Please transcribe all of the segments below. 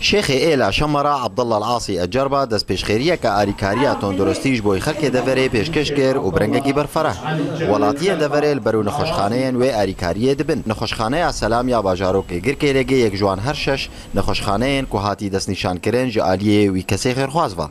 Şêxê Êla Şama re Abdullah Al-Asî Ecerba destpêşxêriyeke alîkariya tunduristî ji bo xelkê deverê pêşkêş kir û bi rengekî berfereh got, Welatiyên deverê li ber û nexweşxaneyên wê alîkariyê dibin. Nexweşxaneya Selam ya bajarokê Girkêlêgê yek ji wan her şeş nexweşxaneyên ku hatî destnîşankirin ji aliyê wî kesê xêrxwaz va.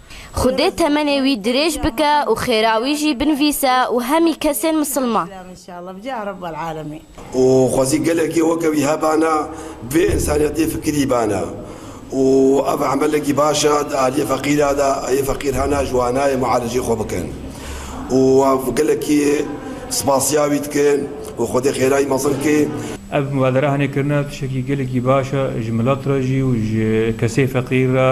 Xwedê temenê wî dirêj bike û xêra wî jî binvîse û hemî kesên misilman. Û xwezî gelekê weke wî hebana bi vê însaniyetê fikirî bana û ev emelekî baş e di aliyê feqîra de ê feqîr hene ji wan nayê mualeceyê xwe bikin û ev gelekî spasiya wî dikin û xwedê xêra wî mezin ke. Ev mubadere hene kirina tiştekî gelekî baş e ji milet re jî û ji kesê feqîr re.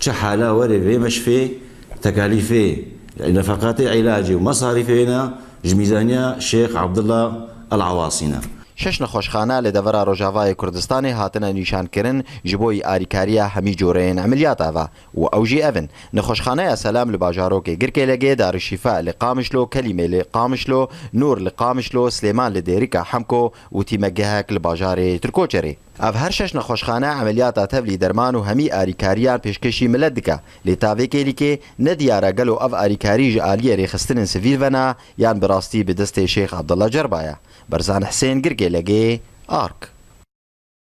Çi hala werê vê meşfê tekalîfê nefeqatê îlacê û mesarîfê wê ne ji mîzaniya Şêx Abdullah El Awasî ne. Şeş nexweşxane li devera Rojavayê Kurdistanê hatine nîşankirin ji bo alîkariya hemî coreyên emeliyata ve û ew jî ev in, Nexweşxaneya Selam li bajarokê Girkêlegê, Darişîfa li Qamişlo, Kelîmê li Qamişlo, Nûr li Qamişlo, Silêman li Dêrika Hemko û tîmegehek li bajarê Tirkoçerê. Ev her şeş nexweşxane emeliyata tevlî derman û hemî arîkariyan pêşkêşî milet dike. Lê ta vê kêlîkê ne diyar e gelo ev arîkarî ji aliyê rêxistinên sivîl ve ne yan bi rastî bi destê Şêx Abdullah Cerba ye. Berzan Hisên Girgê, Legê, ark.